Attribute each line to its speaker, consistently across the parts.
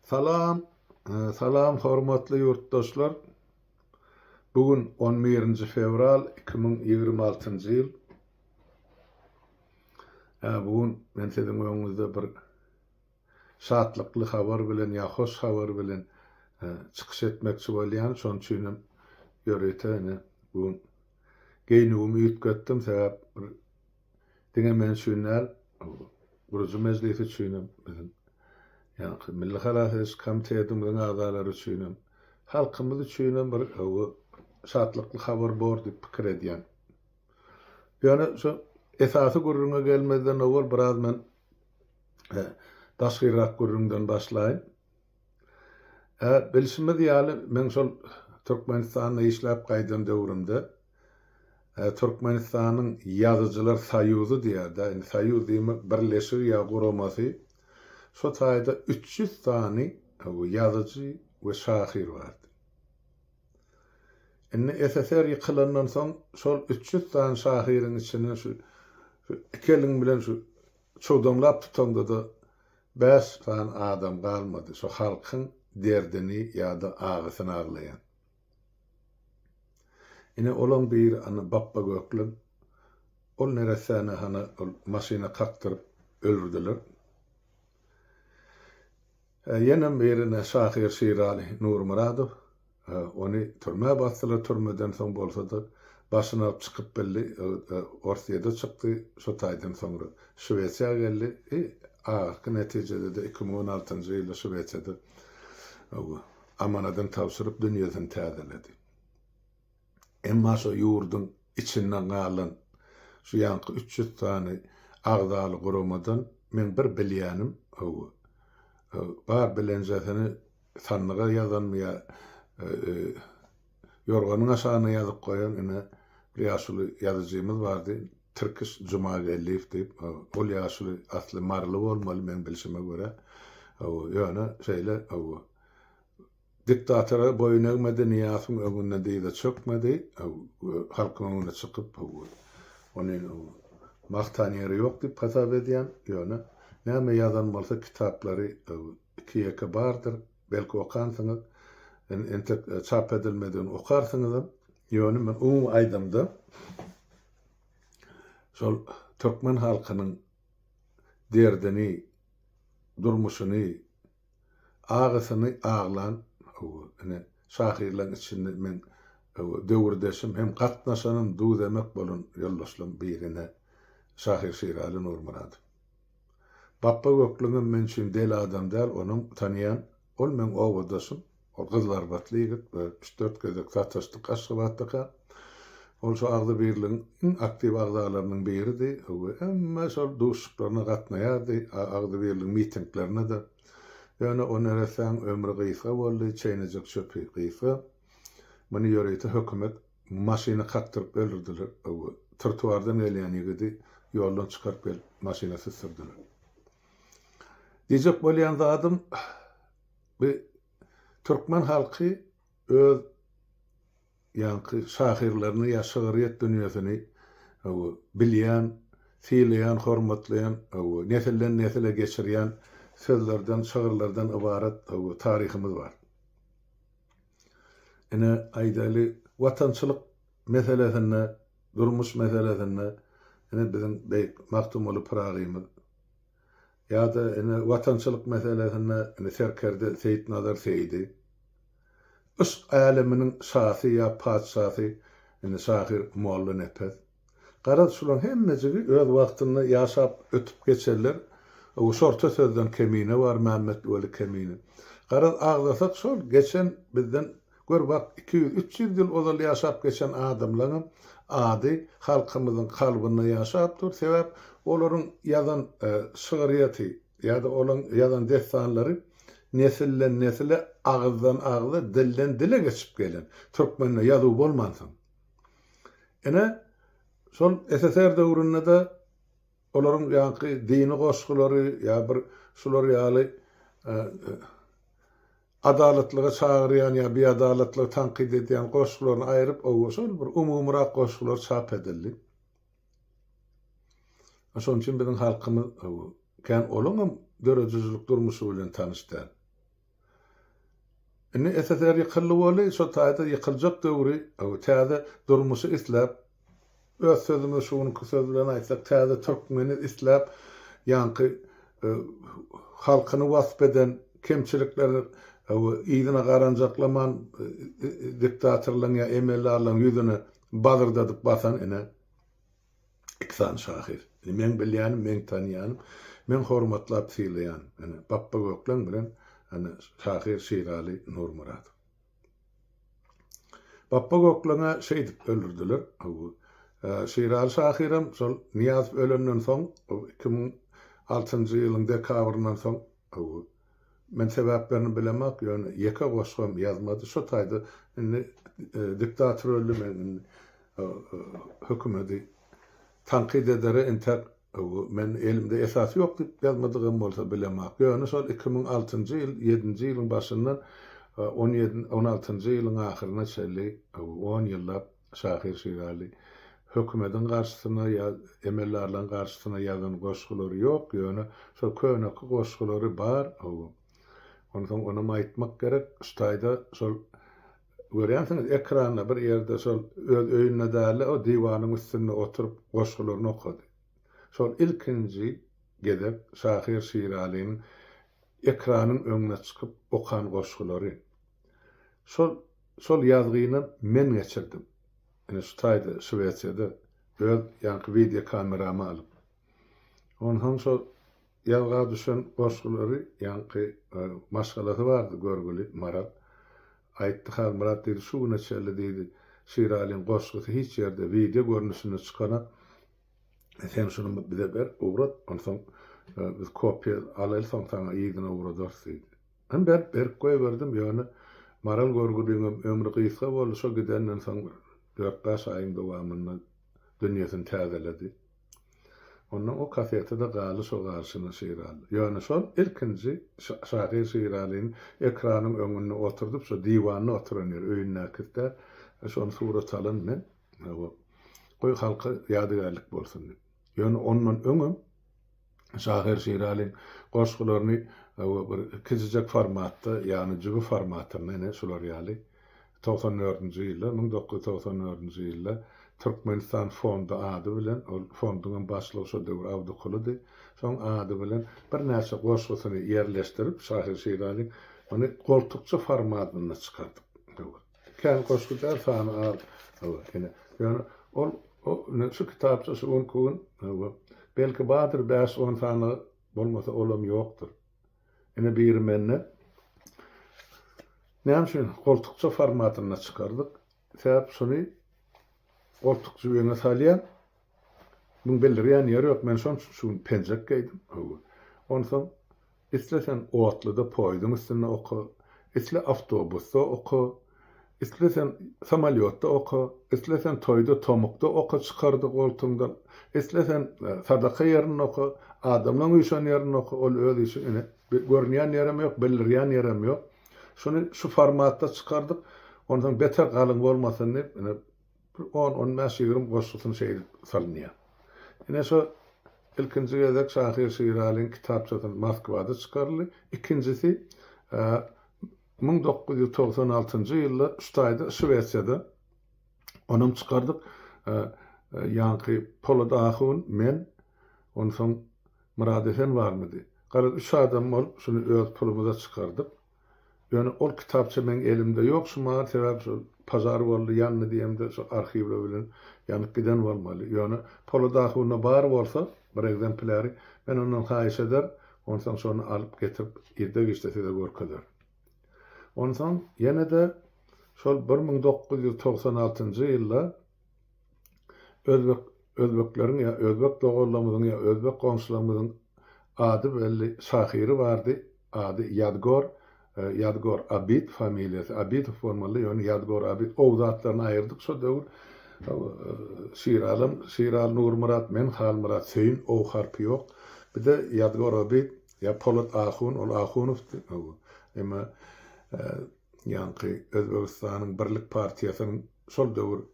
Speaker 1: Salam, salam hormatly ýurtdaşlar. Bu gün on birinji fewral iki müň ýigrimi altynjy ýyl. Hä, bu gün men siziň öňüňizde bir şatlykly habar bilen ýa hoş habar bilen çykyş etmekçi bolýan. Şonuň üçin hem ýörite ine bu gün geýnügimi üýtgetdim, sebäp bir Diňe men üçin däl, bu gurujy mejlis üçinem, biziň ýaňky Milli halas ediş komitetimiziň agzalary üçinem, halkymyz üçinem bir gowy, şatlykly habar bor diýip pikir edýän. Ýöne şu esasy gürrüňe gelmezden owal biraz men daşkyrak gürrüňden başlaýyn. Hä, bilşimiz ýaly, men şol Türkmenistanda işläp gaýdan döwrümde Türkmenistanyň Ýazyjylar soýuzy diýýär-dä, indi soýuz diýmek, birleşigi ýa guramasy, şo taýda üç ýüz sany ýazyjy we şahyr bardy. Indi SSR ýykylandan soň şol üç ýüz sany şahyryň içinden şu iki eliň bilen şu Çowdamlap tutanda-da bäş sany adam galmady, şu halkyň derdini ýa-da agysyny aglaýan. Ine, olaň biri ana Bapba Gökleň. Ol neressäni hany ol maşyna kakdyryp öldürdiler. Ýene birine şahyr Şiraly Nurmyradow ony türmä basdylar, türmeden soň bolsa-da başyny alyp çykyp bildi, Orsýede çykdy, şu taýdan soňra Şwesiýa geldi, i ahyrky netijede-de iki müň on altynjy ýylda Şwesiýada amanadyny tabşyryp dünýesini täzeledi. Emma şo ýurduň içinden galan şu ýanky üç ýüz sany agzaly guramadan meň bir bilýänim, hawa, bar bilenjesini sandyga ýazanmy ýa ýorganyň aşagyna ýazyp goýan ine bir ýaşuly ýazyjymyz bardy, Tirkiş Jumageldiýew diýip, hawa, ol ýaşuly asly maryly bolmaly meň bilşime görä, hawa, ýöne şeýle, hawa, Diktatora boýun egmedi, Nyýasowyň öňünde dyza çökmedi, halkyň öňüne çykyp, ony magtan ýeri ýok diýip hasap edýän, ýöne näme ýazan bolsa kitaplary iki-ýeke bardyr, belki okansyňyz, entek çap edilmedigini okarsyňyzam, ýöne men umumy aýdymda şol türkmen halkynyň derdini, durmuşyny, Agasyny aglan, hawa, ine, şahyrlaň içinde meň, hawa, döwürdeşim hem gatnaşanym, duz-emek bolan ýoldaşlaň biri, ine, şahyr Şiraly Nurmyradow. Bapba Göklüňem men üçin deli adam däl, onuň, tanaýan, ol meň obadaşym. Ol gyzlarbatly ýigit we üç-dört gezek sataşdyk Aşgabatdaka. Ol şu agzybirligiň iň aktiw agzalarynyň biridi we hemme şol duşuşyklaryna gatnaýardy, agzybirligiň mitinglerine-de. Ýöne o neressäň ömri gysga boldy, çeýnejek çöpi gysga. Muny ýörite hökümet maşyna kakdyryp öldürdiler we trotuardan gelýän ýigidi ýoldan çykaryp gelip maşyna süsdürdiler. Diýjek bolýan zadym. Bu türkmen halky öz ýaňky şahyrlaryny ýa şygryýet dünýesini bilýän, sylaýan, hormatlaýan, nesilden nesile geçirýän sözlerden, şygyrlardan ybarat taryhymyz bar. Ine, aýdaýly, watançylyk meselesinde, durmuş meselesinde ine biziň beýik Magtymguly Pyragymyz Ýa-da ine watançylyk meselesinde ine serkerde Seýitnazar Seýidi. Yşk äleminiň şasy ýa patyşasy ine şahyr Mollanepes. Garaz şularyň hemmejigi öz wagtynda ýaşap ötüp geçerler. Ow şorta sözden kemine bar Mämmetweli Kemine. Garaz agzasak şol geçen bizden Gör bak, iki ýüz, üç ýüz ýyl ozal ýaşap geçen adamlaňam ady halkymyzyň kalbynda ýaşap dur, sebäp olaryň ýazan şygyrýeti ýa-da olaň ýazan dessanlary nesilden nesile, agyzdan agza, dilden dile geçip gelen. Türkmende ýazuw bolmansoň. Ine, şol SSR döwründe-de olaryň ýaňky dini goşgulary ýa bir şular ýaly Adalatlyga çagyrýan ýa biadalatlygy tankyt edýän goşgularyny aýryp ow şol bir umumyrak goşgular çap edildi. Şonuň üçin biziň halkymyz ow kän olaňam döredijilik durmuşy bilen tanyş däl. Indi SSR ýykyldy boly, şo taýda ýykyljak döwri ow täze durmuşy isläp, Öz sözümi şu günki söz bilen aýtsak, täze türkmeni isläp, ýaňky halkyny wasp eden kemçilikleri yzyna garanjaklaman diktatorlaryň ýa emeldarlaryň ýüzüne bazyrdadyp basan ine, iki sany şahyr. Ine, meň bilýänim, meň tanýanym, meň hormatlap sylaýanym, ine, Bapbagökleň bilen, ine, şahyr Şiraly Nurmyradow. Bapba Gökleňe şeýdip öldürdiler. Şiraly şahyram şol Nyýazow ölenden soň, iki müň altynjy ýylyň dekabryndan soň, men sebäplerini bilemok, ýöne ýeke goşgam ýazmady. Şo taýda indi diktator öldi, men indi hökümedi tankyt edere entek Men elimde esas ýok diýip ýazmadygym bolsa bilemok. Ýöne şol iki müň altynjy ýyl, ýedinji ýylyň başyndan on ýedi, on altynjy ýylyň ahyryna çenli on ýyllap şahyr Şiraly hökümediň garşysyna ýa emeldarlaryň garşysyna ýazan goşgulary ýok, ýöne şol köneki goşgulary bar. Onsoň onam aýtmak gerek, şu taýda şol Görýänsiňiz, ekranda bir ýerde şol öz öýünde dälde, o diwanyň üstünde oturyp goşgularyny okady. Şol ilkinji gezek şahyr Şiralynyň ekranyň öňüne çykyp okan goşgulary. Şol şol ýazgyny men geçirdim. Ine şu taýda Şwesiýada öz ýaňky wideokameramy alyp. Onsoň şol ýazga düşen goşgulary ýaňky maşgalasy bardy görgüli Maral. Aýtdy Halmyrat diýdi, şu güne çenli diýdi, Şiralyň goşgusy hiç ýerde wideo görnüşinde çykanok. Sen şuny bize ber, ugrat, onsoň biz kopiýa alaly, soň saňa yzyna ugradarys diýdi. Men berip, berip goýberdim, ýöne Maral görgüliňem ömri gysga boldy, şo gidenden soň bir dört-bäş aýyň dowamynda dünýesini täzeledi. Onda o kaseti-de galy şo garşyna Şiraly. Ýöne şol ilkinji şahyr Şiralyny ekranyň öňünde oturdyp, şo diwanda oturan ýeri, öýündäkisi däl, şony surat alan men, hawa, goý, halka ýadygärlik bolsun diýip. Ýöne ondan öňem şahyr Şiralyň goşgularyny, hawa, bir kiçijek formatda, ýagny jübi formatynda, ine, şular ýaly, Togsan dördünji ýylda, müň dokuz ýüz togsan dördünji ýylda Türkmenistan fondy ady bilen, ol fonduň hem başlygy şo döwür Abdykulydy, soň ady bilen birnäçe goşgusyny ýerleşdirip, şahyr Şiraziň ony goltukça formatynda çykardyk. Hawa. Kän goşgy däl, sany az. Hawa, ine. Ýöne ol, o, ine, şu kitapça şu günki gün, hawa, belki bardyr bäş-on sany, bolmasa olam ýokdur. Ine biri mende. Näme üçin goltukça formatynda çykardyk? Sebäp şuny goltuk jübeňe salýan. Muň bildirýän ýeri ýok. Men şoň üçin şu gün penjek geýdim. Hawa. Onsoň isleseň otluda poýzuň üstünde oka, isle awtobusda oka. Isleseň samolýotda oka, isleseň toýda tomukda oka çykardy goltuňdan, isleseň sadaka ýerinde oka, adamlaň üýşen ýerinde oka, ol öz işiň ine görünýän ýerem ýok, bildirýän ýerem ýok. Şuny şu formatda çykardyk, onsoň beter galyň bolmasyn diýip, ine bir on, on bäş, ýigrimi goşgusyny şeýdip salynýar. Ine şu ilkinji gezek şahyr Şiralyň kitapçasy Moskwada çykaryldy. Ikinjisi Müň dokuz ýüz togsan altynjy ýylda Ştaýda, Şwesiýada, onam çykardyk. Ýaňky Polat ahun, men, onsoň Myrat Esen barmydy? Galan üç adam bolup, şuny öz pulumyza çykardyk. Ýöne ol kitapça meň elimde ýok şumagal, sebäbi şol pažar boldy, ýandy diýemde, şo arhiwler bilen ýanyp giden bolmaly. Ýöne Polat ahunda bar bolsa, bir ekzemplýary, men ondan haýyş eder, Onsoň şony alyp getirip irde-giçde size görkezerin. Onsoň ýene-de şol bir müň dokuz ýüz togsan altynjy ýylda özbek özbekleriň ýa özbek doganlarymyzyň ýa özbek goňşularymyzyň ady belli şahyry bardy, ady Ýadgor Ýadygor Abid familiýasy, Abidow bolmalydy, ýöne Ýadygor Abid ow zatlaryny aýyrdyk şo döwür. Şiralam, Şiral Nurmyrat, men Halmyrat Söýün, ow harpy ýok. Bir-de Ýadygor Abid, ýa Polat Ahun, ol Ahunowdy, ow. Emma ýaňky Özbegistanyň Birlik partiýasynyň şol döwür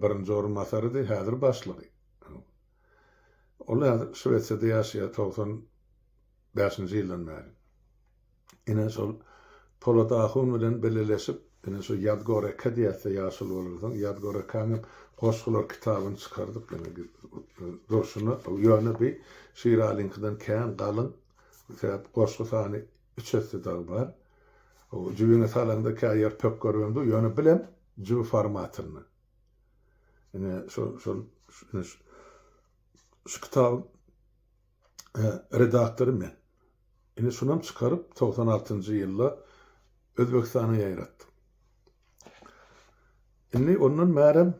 Speaker 1: birinji orunbasarydy, häzir başlygy. Ol häzir Şwesiýada ýaşaýar, togsan bäşinji ýyldan bäri. Ine şol Polat ahun bilen bileleşip ine şu Ýazgoreka diýäs-de ýaşuly bolansoň Ýazgorekaňam goşgular kitabyny çykardyk ine durşuna ýöne bi Şiralyňkydan kän galyň sebäp goşgy sany üç esse dagy bar. O jübiňe salaňda kä ýer pökgeribem dur ýöne bilem jübi formatynda. Ine şol şol şu kitabyň redaktory men. Indi şunam çykaryp, togsan altynjy ýylda Özbegistana ýaýratdym. Indi ondan bärem,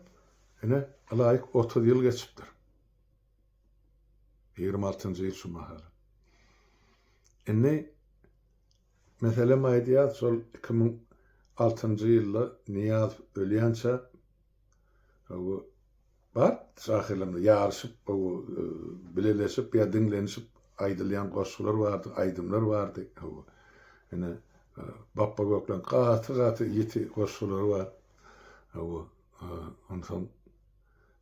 Speaker 1: ine, ylaýyk otuz ýyl geçipdir. Ýigrimi altynjy ýyl şu mahalam. Indi, meselem aýdýar, şol iki müň altynjy ýylda Nyýazow ölýänçä, Gowy bar şahyrlaryň ýaryşyp gowy bileleşip ýa diňlenişip aýdylýan goşgular bardy aýdymlar bardy gowy ine Bapba Gökleň gaty gaty ýiti goşgulary bar gowy onsoň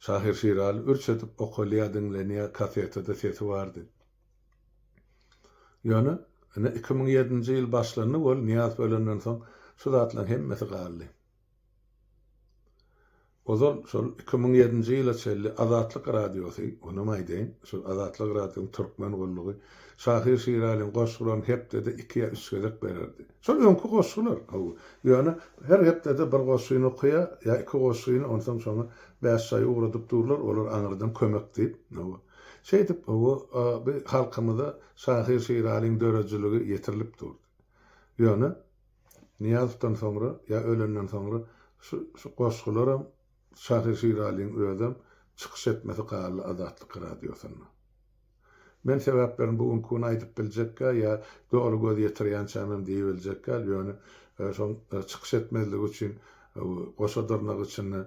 Speaker 1: Şahyr Şiraly ürç edip okalýa diňlenýä kasetede sesi bardy ýöne ine iki müň ýedinji ýyl başlandy ol Nyýaz ölenden soň şu zatlaryň hemmesi galdy. Ozal şol iki müň ýedinji ýyla çenli Azatlyk Radiosy, onam aýdaýyn, şol Azatlyk Radionyň Türkmen gullugy, şahyr Şiralyň goşgularyny hepdede iki ýa üç gezek bererdi. Şol öňki goşgular, hawa. Ýöne her hepdede bir goşgyny okaýar, ýa iki goşgyny, onsoň şoňa bäş çaý ugradyp durlar, olar aňyrdan kömek diýip, hawa. Şeýdip, hawa, bi halkymyza şahyr Şiralyň döredijiligi ýetirilip durdy. Ýöne. Nyýazowdan soňra ýa ölenden soňra şu şu goşgularam Şahyr Şiralyň özem çykyş etmesi galdy Azatlyk Radiosynda. Men sebäplerini bu günki gün aýdyp biljekgä ýa doly göz ýetirýänçämem diýibiljekgä ýöne şoň çykyş etmezligi üçin goşa dyrnak içinde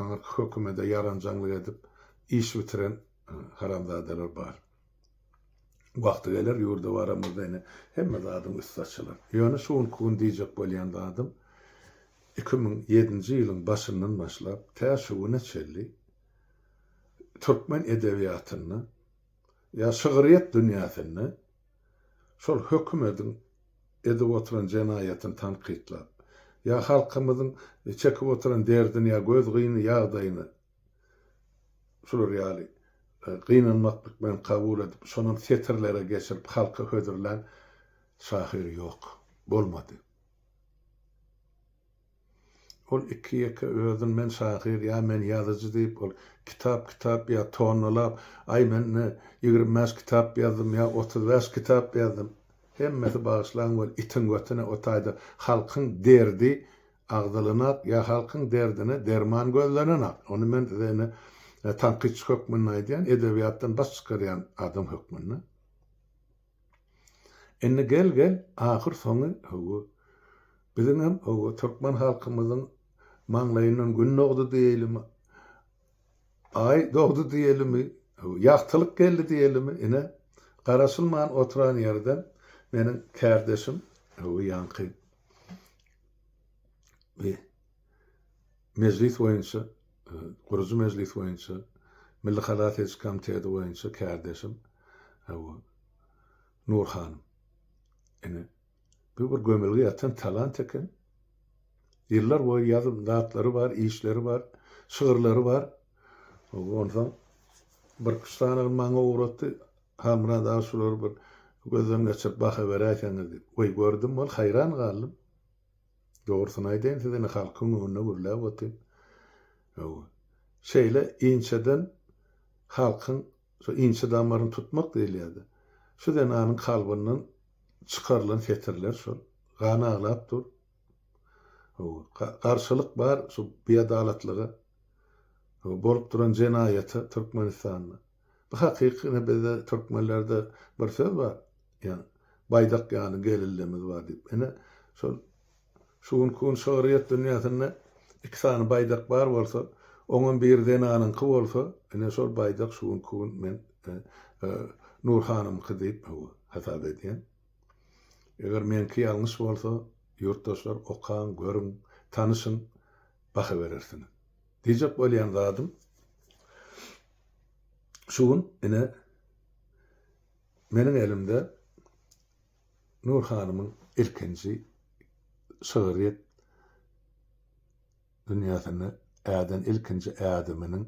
Speaker 1: aňyrky hökümede ýaranjaňlyk edip iş bitiren haramzadalar bar. Wagty geler, ýurda baramyzda ine, hemme zadyň üsti açylar. Ýöne şu günki gün diýjek bolýan zadym, iki müň ýedinji ýylyň başyndan başlap, tä şu güne çenli türkmen edebiýatynda ýa şygryýet dünýäsinde şol hökümediň edip oturan jenaýatyny tankytlap, ýa halkymyzyň çekip oturan derdini ýa göz gyny ýagdaýyny Şular ýaly gynanmaklyk bilen kabul edip, şonam setirlere geçirip, halka hödürlän şahyr ýok, bolmady. Ol iki-ýeke özün men şahyr ýa men ýazyjy diýip, ol kitap-kitap ýa tonnalap, aý men ine ýigrimi bäş kitap ýazdym ýa otuz bäş kitap ýazdym. Hemmesi bagyşlaň weli itiň götüne o taýda halkyň derdi Agzylynak ýa halkyň derdine derman gözlenenak. Ony men size indi tankytçy hökmünde aýdýan, edebiýatdan baş çykarýan adam hökmünde. Indi gel gel ahyr soňy hawa, biziňem hawa türkmen halkymyzyň maňlaýyndan gün dogdy diýeýlimi, Aý dogdy diýeýlimi, hawa ýagtylyk geldi diýeýlimi, ine garaşylman oturan ýerden meniň kärdeşim, hawa ýaňky. we Mejlis boýunça, e, gurujy Mejlis boýunça, Milli halas ediş komiteti boýunça kärdeşim Hawa. Nur hanym. Ene. Bu bir gömülge ýatan talant eken. Ýyllar boýy ýazyp zatlary bar, işleri bar, şygyrlary bar. Onsoň bir iki sany maňa ugratdy. Halmyrat aga şulary bir gözden geçirip baha beräýseňiz diýip. Weý gördüm bol haýran galdym. Dogrusyny aýdaýyn size indi halkyň öňünde gürläp otyryn. Hawa. Şeýle inçeden halkyň şu inçe damaryny tutmak diýilýär-de. Şu zenanyň kalbyndan çykarylan setirler şol. Gan aglap dur. Hawa. Garşylyk bar şu biadalatlyga. Hawa bolup duran jenaýata Türkmenistanda. Bu hakyky ine bizde türkmenlerde bir söz bar ýa baýdak ýaly gelillemiz bar diýip ine şol şu günki gün şygryýet dünýäsinde iki sany baýdak bar bolsa oňam biri zenanyňky bolsa ine şol baýdak şu günki gün men Nur hanymky diýip hasap edýän. Eger meňki ýalňyş bolsa ýurtdaşlar okaň görüň tanyşyň baha berersiňiz. Diýjek bolýan zadym Şu gün ine meniň elimde Nur hanymyň ilkinji şygryýet dünýäsine äden ilkinji ädiminiň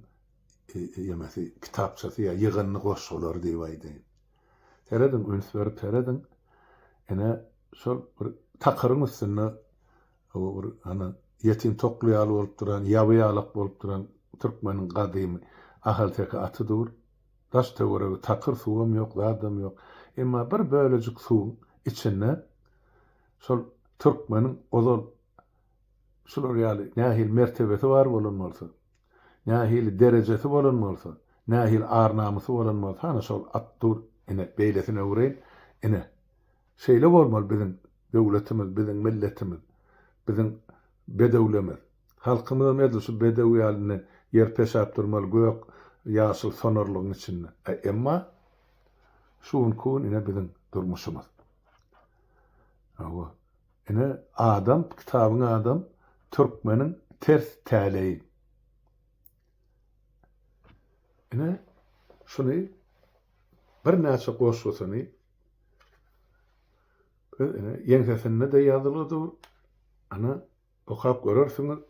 Speaker 1: ýemesi, kitapçasy ýa ýygyndy goşgulary diýip aýdaýyn. Serediň, üns berip serediň. Ine, şol bir takyryň üstünde Bu bir hany ýetim tokly ýaly bolup duran, ýaby ýalak bolup duran türkmeniň gadymy ahalteke aty dur. Daş-töweregi takyr, suwam ýok, zadam ýok. Emma bir bölejik suwuň içinde şol türkmeniň ozal şular ýaly nähili mertebesi bar bolan bolsa, nähili derejesi bolan bolsa, nähili ar-namysy bolan bolsa, hany şol at dur. Ine, beýlesini öwreýin. Ine. Şeýle bolmaly biziň döwletimiz biziň milletimiz biziň bedewlemiz halkymyzam edil şu bedew ýaly indi ýer peşäp durmaly gök ýaşyl sonarlygyň içinde e emma şu günki gün ine biziň durmuşymyz hawa ine adam kitabyň adam türkmeniň ters täleýi ine şuny birnäçe goşgusyny Ine, ýeňsesinde-de ýazyly dur. Ana, okap görersiňiz.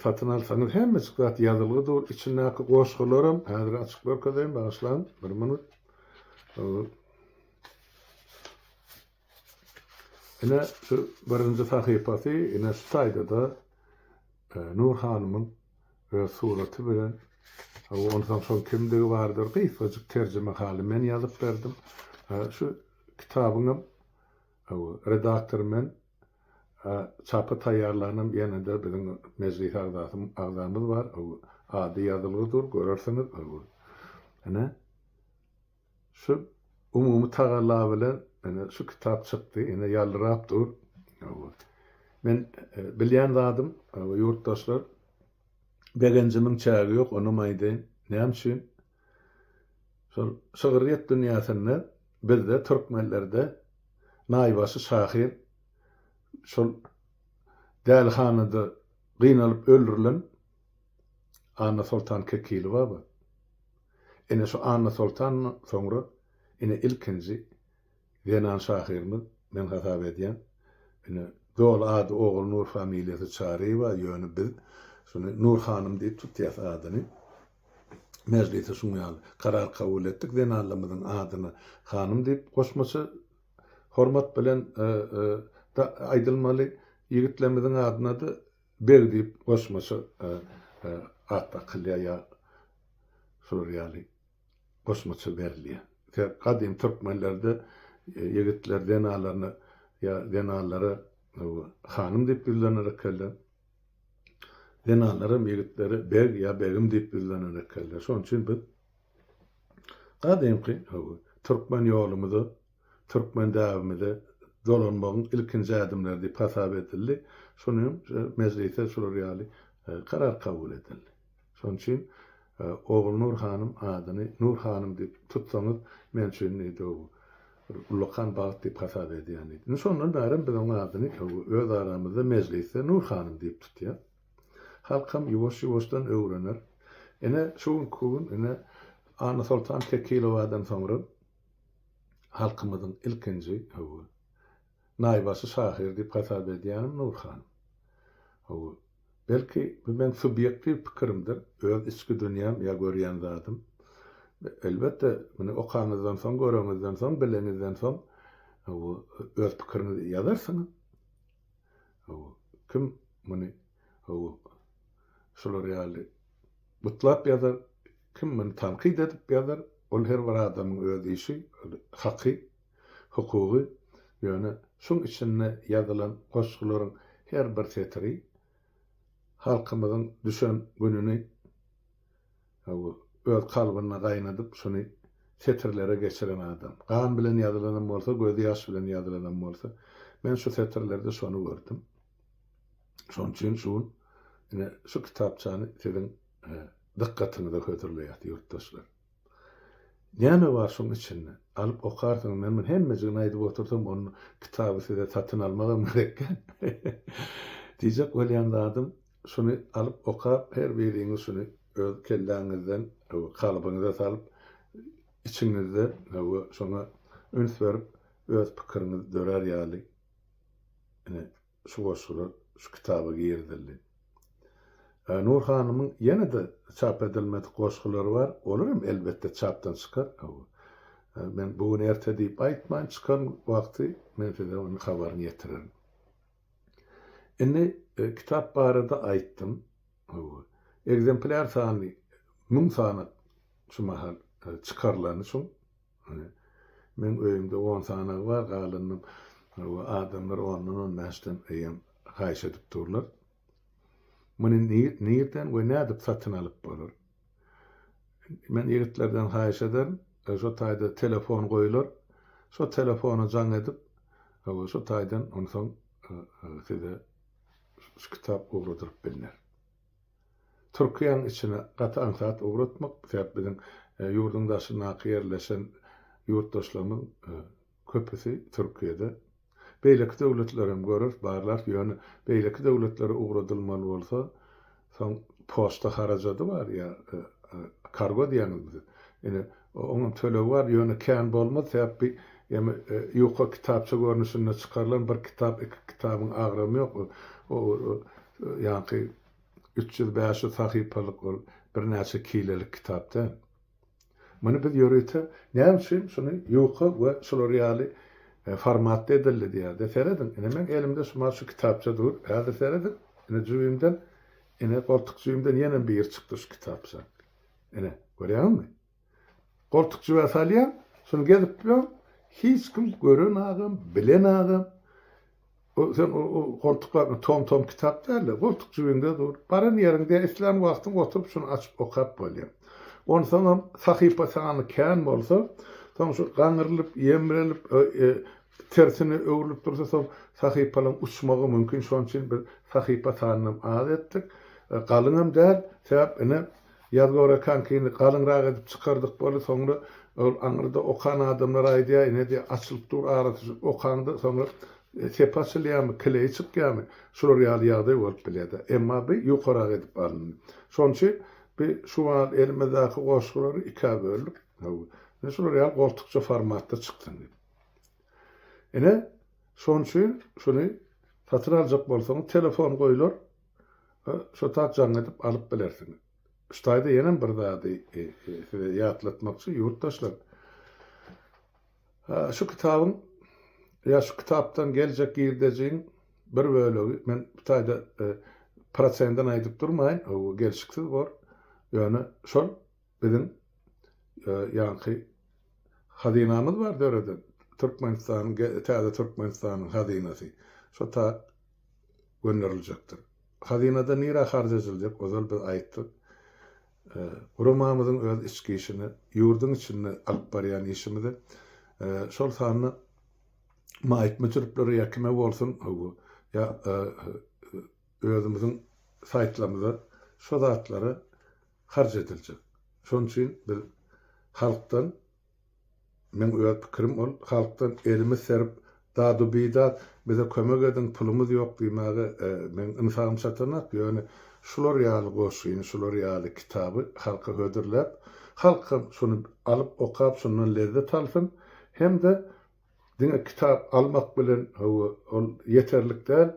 Speaker 1: Satyn alsaňyz hemmejik zat ýazylgy dur. Içindäki goşgularam, häzir açyp görkezeýin, bagyşlaň, bir minut. Ine, şu birinji sahypasy, ine şu taýda-da Nur hanymyň Öz suraty bilen. Hawa, onsoň şol kimdigi bardyr, gysgajyk terjimehaly men ýazyp berdim. Hä, şu kitabyňam, hawa, redaktor men, a çapa taýýarlanam ýene-de biziň mejlis agzasy, agzamyz bar, hawa, ady ýazylgy dur, görersiňiz, hawa. Ine, Şu umumy tagalla bilen ine şu kitap çykdy, ine ýalbyrap dur. Hawa. Men bilýän zadym, hawa, ýurtdaşlar, begenjimiň çägi ýok, onam aýdaýyn. Näme üçin? Şol şygryýet dünýäsinde bizde, türkmenlerde naýbaşy şahyr şol dälihanada gynalyp öldürilen Annasoltan Kekilibaba. Ine şu Annasoltandan soňra ine ilkinji zenan şahyrymyz men hasap edýän. Ine doly ady Ogulnur familiýasy Çaryýewa ýöne biz şuny Nur hanym diýip tutýas adyny. Mejlise şuň ýaly karar kabul etdik zenanlarymyzyň adyna hanym diýip goşmaça hormat bilen aýdylmaly. Ýigitlerimiziň adyna-da Beg diýip goşmaça at dakylýar ýa şular ýaly goşmaça berilýär. Sebäp gadymy türkmenlerde ýigitler zenanlaryna ýa zenanlara hanym diýip ýüzlener ekenler. Zenanlaram ýigitlere beg ýa begim diýip ýüzlener ekenler. Şonuň üçin biz gadymky türkmen ýolumyza türkmen däbimize dolanmagyň ilkinji ädimleri diýip hasap edildi. Şonuň üçin mejlisde şular ýaly karar kabul edildi. Şonuň üçin Ogulnur hanym adyny Nur hanym diýip tutsaňyz men üçin ullakan bagt diýip hasap edýän diýdi. Indi şondan bärem biz onuň adyny öz aramyzda mejlisde Nur hanym diýip tutýas. Halkam ýuwaş-ýuwaşdan öwrener. Ine şu günki gün ine Annasoltan Kekilowadan soňra Halkymyzyň ilkinji, hawa, naýbaşy şahyr diýip hasap edýänim Nury hanym. Hawa, belki, bu meň subýektiw pikirimdir, öz içki dünýäm ýa görýän zadym. Elbetde, muny okaňyzdan soň, göreňizden soň, bileňizden soň, hawa, öz pikiriňizi ýazarsyňyz. Hawa, kim muny, hawa, şular ýaly gutlap ýazar, Kim muny tankyt edip ýazar, ol her bir adamyň öz işi, ol haky, hukugy, ýöne şuň içinde ýazylan goşgularyň her bir setiri halkymyzyň düşen gününi hawa, öz kalbynda gaýnadyp, şuny setirlere geçiren adam. Gan bilen ýazylanam bolsa, göz ýaş bilen ýazylanam bolsa, men şu setirlerde şony gördüm. Şoň üçin şu gün ine şu kitapçany siziň. dykgatyňyza hödürleýäs, ýurtdaşlar. Näme bar şuň içinde? Alyp okarsyňyz, men muny hemmejigini aýdyp otursam, ol kitaby size satyn almagam gerekkä? Diýjek bolýan zadym, şuny alyp okap, her biriňiz şuny öz kelläňizden, hawa, kalbyňyza salyp, içiňizde, hawa, şoňa üns berip, öz pikiriňiz dörär ýaly, ine, Şu goşgular şu kitaba girizildi. Nur hanymyň ýene-de çap edilmedik goşgulary bar. Olar hem elbetde çapdan çykar. Men bu gün erte diýip aýtmaýyn, çykan wagty men size onuň habaryny ýetirerin. Indi kitap barada aýtdym. Ekzemplýar sany müň sany şu mahal çykarylany çuň. Meň öýümde on sanagy bar, galanynam adamlar ondan on bäşden eýýäm haýyş edip durlar. Muny nirden we nädip satyn alyp bolar? Men ýigitlerden haýyş ederin, şo taýda telefon goýular, şo telefona jaň edip, hawa, şo taýdan onsoň size şu kitap ugradylyp bilner. Türkiýäň içine gaty aňsat ugratmak, sebäp biziň ýurduň daşyndaky ýerleşen ýurtdaşlarymyz köpüsi Türkiýede. Beýleki döwletlerem görer, barlar, ýöne beýleki döwletlere ugradylmaly bolsa, soň poçta harajady bar ýa kargo diýýäňizmi siz? Ine, Oňam tölegi bar, ýöne kän bolmaz, sebäp bi emi ýuka kitapça görnüşinde çykarylan bir kitap, iki kitabyň agramy ýok. O ýaňky üç ýüz, bäş ýüz sahypalyk ol birnäçe kilelik kitap däl. Muny biz ýörite näme üçin şuny ýuka we şular ýaly formatda edildi diýýäs-de. Serediň, ine meň elimde şu maşu kitapça dur. Häzir serediň, ine jübimden, ine goltuk jübimden ýenem biri çykdy şu kitapça. Ine, görýäňmi? Goltuk jübä salýaň, şuny gezip bilen hiç kim gören agam, bilen agam. O sen o, o goltuklar tom-tom kitap däl-de, goltuk jübiňde dur. Baran ýeriňde islän wagtyň oturyp şuny açyp okap bolýar. Onsoňam sahypa sany kän bolsa, soň şu gaňrylyp, ýemrenip, tersine öwrülip dursa, soň sahypalaryň uçmagy mümkin. Şonuň üçin biz sahypa sanynam az etdik. Galyňam däl, sebäp ine Ýaz görekank indi galyňrak edip çykardyk bolu soňra ol aňyrda okan adamlar aýdýa ine diýe açylyp dur arasy şu okaňda soňra sepi açylýamy kileýi çykýamy şular ýaly ýagdaý bolup bilýädä emma by ýokarak edip alyndy şoň üçin by şu mal elimizdaki goşgulary ikä böldük haw ine şular ýaly goltukça formatda çyksyn diýip ine şoň üçin şuny satyn aljak bolsaňyz telefon goýlar. Ýa şo zat jaň edip alyp bilersiňiz. Ştaýda ýenem bir zady size ýatlatmakçy, ýurtdaşlar. Şu kitabyň ýa şu kitapdan geljek girdejiň bir bölegi, men bu taýda prosenden aýdyp durmaýyn, gelşiksiz bor, ýöne şol Biziň ýaňky hazynamyz bar döreden, Türkmenistanyň, täze Türkmenistanyň hazynasy. Şo tat gönderiljekdir. Hazynada nirä harç ejiljek, ozal biz aýtdyk. Guramamyzyň öz içki işini, ýurduň içinde alyp barýan işimizi, şol sanda maýyp müsüriplere ýa kime bolsun, hawa, ýa özümiziň saýtlarymyza şo zatlary harç ediljek. Şonuň üçin biz halkdan, meň öz pikirim ol, halkdan elimiz serip, dadu-bidat, bize kömek ediň, pulumyz ýok diýmäge meň ynsabym çatanok, ýöne şular ýaly goşgyny, şular ýaly kitaby halka hödürläp, halk hem şuny alyp, okap, şundan lezzet alsyn hem-de Diňe kitap almak bilen hawa, ol ýeterlik däl.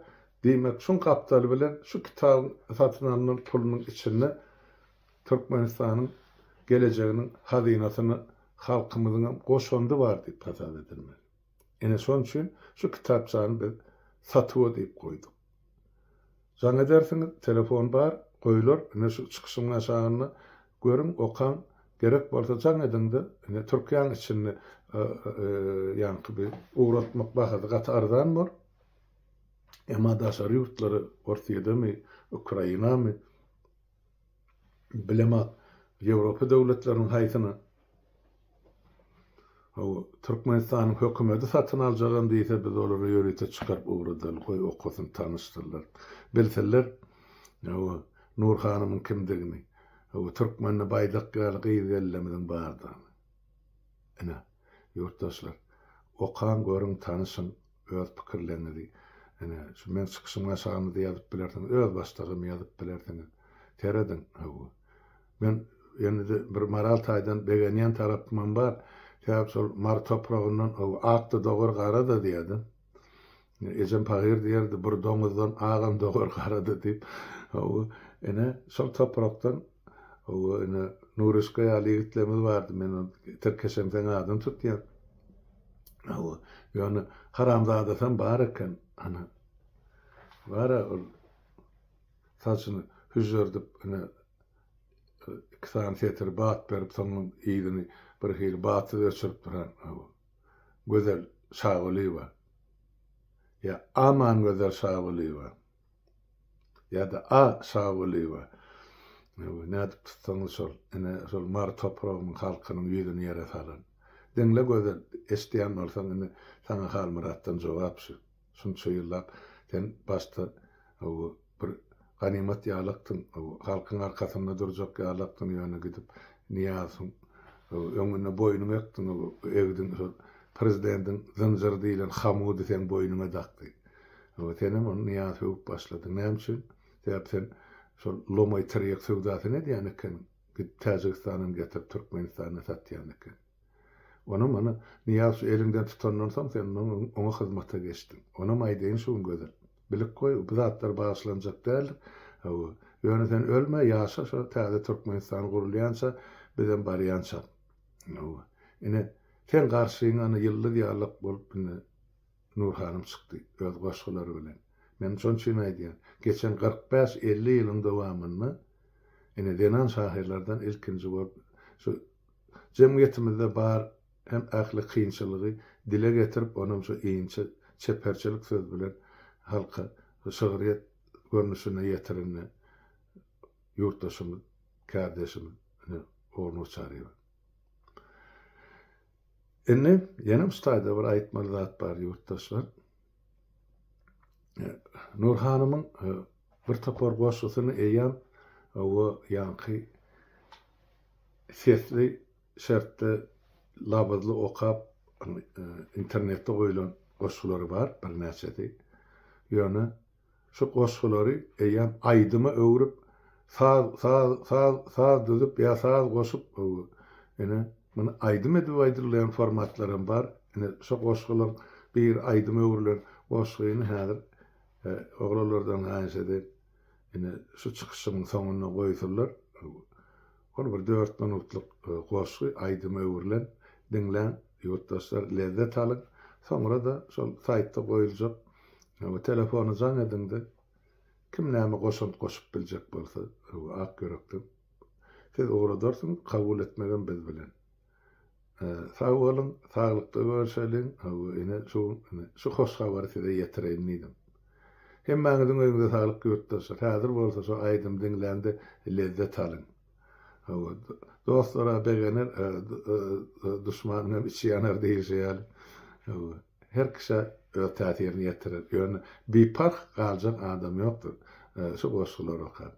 Speaker 1: Diýmek, şuň gapdaly bilen şu kitabyň satyn alnan pulunyň içinde Türkmenistanyň gelejeginiň hazynasyna halkymyzyň hem goşandy bar diýip hasap edilmeli. Ine, şonuň üçin şu kitapçany biz satuwa diýip goýduk. Jaň edersiňiz, telefon bar, goýlar, ine şu çykyşyň aşagynda, görüň, okaň, gerek bolsa jaň ediň-de, ine Türkiýäň içinde ýaňky bir ugratmak bahasy gaty arzan bor, emma daşary ýurtlara, Orsýedemi, Ukrainamy, Bilema Ýewropa döwletleriniň haýsyny haw Türkmenistanyň hökümedi satyn aljagam diýse biz olary ýörite çykaryp ugradan goý okasyn tanyşdyrlar bilsinler haw Nur hanymyň kimdigini haw Türkmende baýdak ýaly gyz gelnemiziň bardygyny ine ýurtdaşlar okaň görüň tanyşyň öz pikirleriňizi ine şu meň çykyşymyň aşagynda ýazyp bilersiňiz, öz başdagam ýazyp bilersiňiz. Serediň, hawa. Men indi bir moral taýdan begenýän tarapymam bar. Sebäbi şol Mary topragyndan hawa ak-da dogar, gara-da diýýärdi. Ejem pahyr diýerdi, bir doňuzdan agam dogar, gara-da diýip. Hawa, ine şol toprakdan hawa ine Nuryşka ýaly ýigitlerimiz bardy. Men tirkeşemseň adyny tutýan. Hawa, ýöne haramzadasam bar eken, ana, bar-a ol saçyny hüžžerdip, ine, iki sany setir bat berip, soňam yzyny birhili batsyz öçürip duran, hawa, Gözel Şagulyýewa. Ýa Amangözel Şagulyýewa. ýa-da A. Şagulyýewa, nädip tutsaňyz şol, ine, şol mary topragymyň halkynyň ýüzüni ýere salan. Diňle Gözel, eşidýän bolsaň, indi saňa Halmyratdan jogap şu. Şunça ýyllap sen başda bir ganymat ýalakdyň, halkyň arkasynda durjak ýalakdyň, ýöne gidip Nyýazowyň öňünde boýnuňy ekdiň, egdiň, şol prezidentiň zynjyry diýlen hamudy seň boýnuňa dakdy. Ýa senem ony Nyýaz sögüp başlady. Näme üçin? Sebäp sen şol lomaý tirýek söwdasyny edýän ekeniň. Gidip Täjigistandan getirip Türkmenistanda satýan ekeniň. Onam ony Nyýaz şu eliňden tutandan soň sen ondan öň oňa hyzmata geçdiň. Onam aýdaýyn şu gün Gözel. Bilip goý, bu zatlar bagyşlanjak däldir. Hawa. Ýöne sen ölme, ýaşa şo täze Türkmenistan gurulýança, bizem barýançam. Hawa. Ine, seň garşyňa ýyldyz ýaly bolup indi Nur hanym çykdy, öz goşgulary bilen. Men şon üçin aýdýan, geçen kyrk bäş, elli ýylyň dowamynda, ine, zenan şahyrlardan ilkinji bolup, şu jemgyýetimizde bar hem ähli kynçylygy dile getirip, onam şu inçe çeperçilik söz bilen halka şygryýet görnüşinde ýetirende ýurtdaşymyz, kärdeşimiz, ine, Ogunoçaryýewa. Indi ýene ustaýda bir aýtmaly zat bar ýurtdaşlar. Nur hanymyň e, bir topar goşgusyny eýýäm we ýaňky sesli şertde labyzly okap e, internetde goýlan goşgulary bar birnäçesi. Ýöne Şu goşgulary eýýäm aýdyma öwrüp, saz, saz, saz, saz düzüp ýa saz goşup, ine, muny aýdym edip aýdylýan formatlaram bar. Ine, şo goşgularyň biri aýdyma öwrülen goşgyny häzir oglanlardan haýyş edeýin, ine, şu çykyşymyň soňunda goýsunlar. Ol bir dört minutlyk goşgy aýdyma öwrülen. Diňläň ýurtdaşlar, lezzet alyň. Soňra-da şol saýtda goýuljak we telefony jaň ediňde kim näme goşant goşup biljek bolsa, ak ýürekden siz ugradarsyňyz, kabul etmegem biz bilen. Sag boluň, saglykda görşeliň. Hawa, ine şu şu hoş habary size ýetireýin diýdim. Hemmäňiziň öýüňize saglyk ýurtdaşlar. Häzir bolsa şu aýdymy diňläňde lezzet alyň. Hawa, dostlar-a begener, duşmanyň hem içi ýanar diýlişi ýaly. Hawa, her kişä öz täsirini ýetirer. Ýöne biparh galjak adam ýokdur şu goşgulary okap.